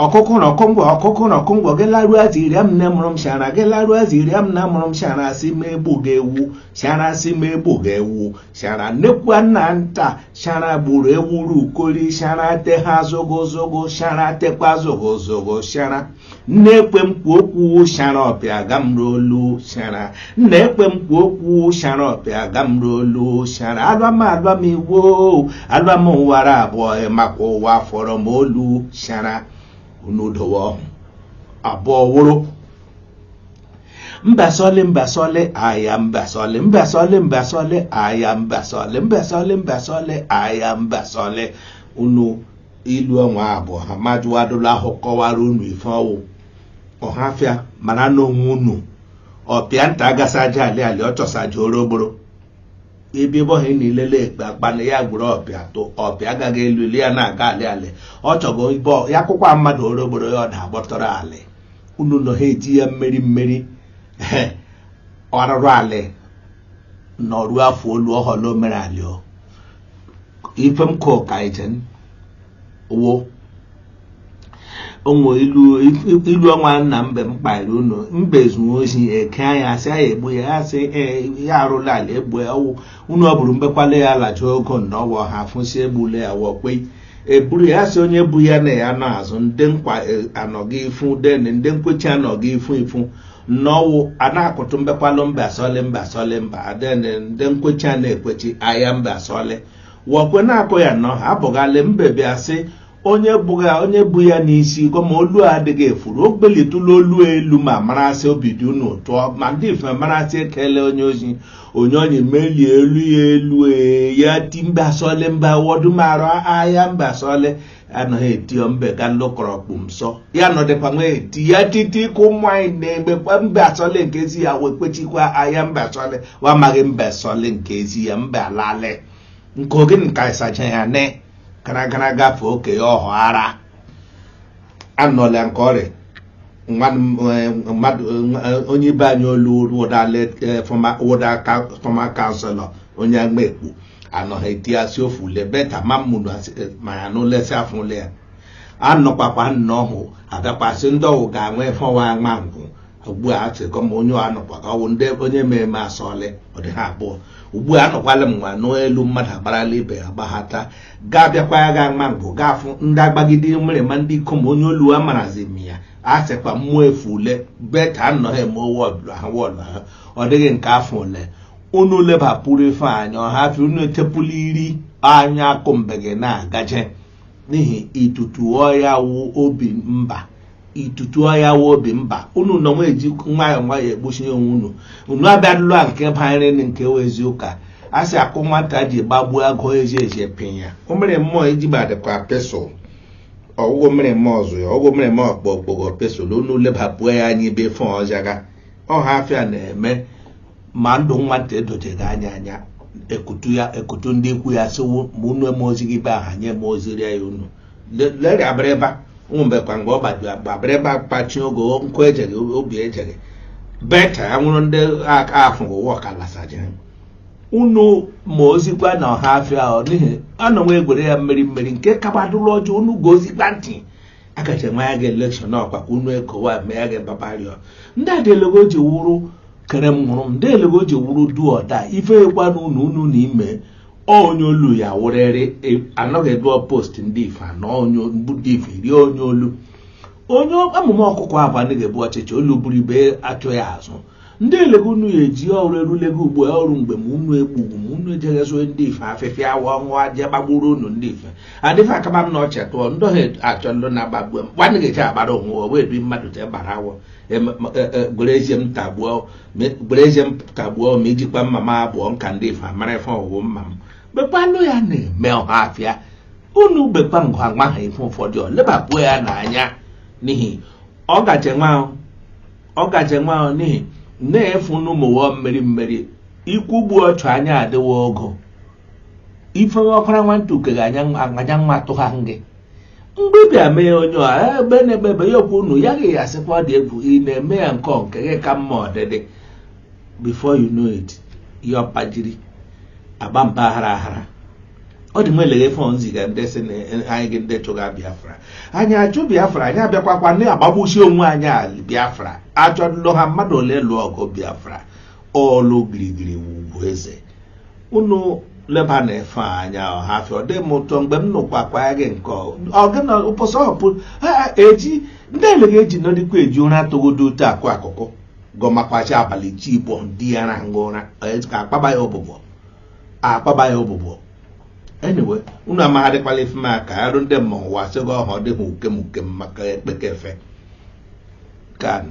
ọkụkụ na ọkụmgwọ ọkụkụ na ọkụmgwọ gị laruo ziiri m nne mụrụ m shara gị laruo ziiri m nna mụrụ m shara sị m egbuga ewu shara sị m egbuga ewu shara nnekwu nna nta shara gburu ewuru ukori shara te ha zogozogo shara tekwa zogozogo shara nne ekwe m kwu okwu shara ọpịa ga m n'olu shara nna ekwe m kwuo okwu shara ọpịa aga m n'olu shara alụam alụam iwo alụam ụwara abụọ makwa ụwa fọrọ m olu shara unu dowe ọhụ abụọ wụrụ mbasọlị mbasọlị aya mbasọlị mbasọlị mbasọlị aya mbasọlị mbasọlị mbasọlị aya mbasọlị unu ilu ọnwa abụọ ha majụwadụla ahụ kọwara unu ife ọ wụ ọhafịa mara n'onwe unu ọpịa nta agasa aja alị alị ọ chọsa aja oro ogboro ebe ebe ọhịa na ilele ekpe akpa na ya gwụrụ ọpịa tụ ọpịa agaghị elu elu ya na-aga alị alị ọ chọgo ibe ọ- ya akwụkwọ a mmadụ oro ogboro ya ọ na-agbọtọrọ alị unu nọ ha eji ya mmeri mmeri ehe, ọrụrụ alị nọruo afọ olu ọ họla omere alị o ife m kụ ka ijen wo o nwe ilu ọnwa nna mbe m kpaịrị unu mbe zuo ozi eke anya a sị anyị egbu ya ya sị ee ya arụla ala egbu ya ọ wụ unu ọ bụrụ mbekwala ya alacha ogo na ọwa ha afụsị egbule ya wọkpe eburu ya sị onye bu ya na ya n'azụ ndị nkwa e, anọghị ifu den ndị nkwechi anọghị ifu ifu nnọwụ a na-akụtụ mbekwalụ mbe asọlị mbe asọlị mba den ndị nkwechi a na-ekwechi ahịa mbe asọlị wọkwe na-akụ ya nnọọ abụghalị mbe bịa sị onye bụghị onye bu ya n'isi gwa ma olu adịghị efuru o belitụla olu elu ma marasị obi dị unu ụtọ ma ndị ife marasị ekele onye ozi onye onye melie olu ya elu ee, ya ti mba sọle mba wọdụ mara ahịa mba sọle anaghị eti ya mbe ka ndị kọrọ kpụ nsọ ya nọdịkwa nwa eti ya titi ka ụmụ anyị na-emekwa mba sọle nke ezi ya wee kwechikwa ahịa mba sọle wa amaghị mba sọle nke ezi ya mba lale nke ogene ka ịsacha ya ne gara gara gafee oke ya ọhụ ara anọla nke ọrịa mmadụ onye ibe anyị olu wụda former councillor onye agba ekpo anọghị eti asị ofu ule beta ma mmụrụ ma ya na ulesi afụle ya anọkwakwa nnọọ hụ abịakwasị ndị ọ wụ ga-anwe fọwa nwa ngwụ ugbu a sị ka ma onye anọkwa ka ọ bụ ndị onye mere eme asọlị ọ dị ha abụọ ugbu a anọkwala m nwa n'elu mmadụ agbarala ibe ya gbaghata gaa bịakwa ya gaa ma mbụ gaa fụ ndị agbagide mere ma ndị ikom onye olu a marazi m ya a sịkwa mmụọ efu ule beta anọghị eme wọdụ ha wọdụ ha ọ dịghị nke afọ ole unu lebapụrụ ife anya ọhafịa unu etepụla iri anya akụ mbe gị na-agaje n'ihi itutu ọya wụ obi mba itutu ọya wụ obi mba unu nọ nwa eji nwayọọ nwayọọ egbochi onwe unu unu abịadụlụ a nke banyere na nke wụ ezi ụka a sị akụ nwata ji gbagbuo agụ eji eji epinya o mere mmụọ iji gbadịkwa pesụl ọgwụgwọ mere mmụọ ọzọ ya ọgwụgwọ mere mmụọ ọkpọ okpogho pesụl unu lebapụo ya anya ebe fọ ọjaga ọhafịa na-eme ma ndụ nwata edojeghị anya anya ekutu ya ekutu ndị ikwu ya sịwo ma unu eme ozi gị be aha nye eme ozi rịa ya unu leri abịrịba ụmụ mgbe kwa mgbe ọ gbajuru agba abịrịba kpachi oge nkụ ejeghị obi ejeghị beta ya nwụrụ ndị aka ahụ ụwa ọka lasajiri unu ma ozikwa na ọhafịa ahụ n'ihi anọnwa egwere ya mmeri mmeri nke kabadụrụ ọjọọ unu gezikwa ntị akacha nwa ya ga elekshọn ọkwa ka unu ekowa mee ya ga babario ndị adelego ji wụrụ kere m hụrụ m ndị elego ji wụrụ duoda ife ekwa na unu unu na ime onye olu ya wụrịrị e, anọghị ebe post ndị ife anọ onye ndị ife iri onye olu onye amụma ọkụkọ abụ anaghị ebu ọchịchị olu buru ibe achụ ya azụ ndị elego unu ya eji ọrụ erulego ugbo ọrụ mgbe ma unu egbugbu ma unu ejeghezue ndị ife afịfịa awa ọṅụ aja gbagburu unu ndị ife adịfe akaba m na ọchị tụọ ndọghị achọ ndụ na-agbagbu m gbanịghị eche agbara onwe ọ wee bi mmadụ te gbara awọ gwere ezie m tagbuo ma ijikwa mma m abụọ nka ndị ife amara ife ọwụwụ mma m bekwanụ ya na-eme ọhafịa unu bekwa ngwa nwa ha ife ụfọdụ ọ lebapụ ya n'anya n'ihi ọ gaje nwa ahụ ọ gaje nwa ahụ n'ihi na-efu n'ụmụwọ mmeri mmeri ikwu gbu ọchụ anya adịwa ogo ife ọkwara nwantị uke ga anya nwa tụha gị mgbe ị bịa mee onye a eh, ebe na-eme ebe ya okwu unu ya gị ya asịkwa dị egwu ị na-eme ya nke nke gị ka mma ọdịdị before you know it ya ọpajiri agba mba aghara aghara ọ dị m eleghe fon ziga ndị sị na anyị gị ndị chụga biafra anyị achụ biafra anyị abịakwakwa ndị agbagbusi onwe anyị a biafra achọ ndụ ha mmadụ ole lụọ ọgụ biafra ọlụ girigiri ugwu eze unu leba na-efe anya ọhafịa ọ dị m ụtọ mgbe m nụkwa akwa ya gị nke ọgịna ụbọchị ọhụpụ ha eji ndị ele ga-eji nọdịkwa eji ụra atụgodo otu akụ akụkụ gọmakwachi abalị chi igbo di ya na-arahụ ụra ka akpaba ya ụbụbọ akpaba ya ụbụbọ anyway unu amaghadịkwala ife m aka arụ ndị mmọnwụ asịgo ọha ọ dịghị uke m uke m maka ekpekefe kanụ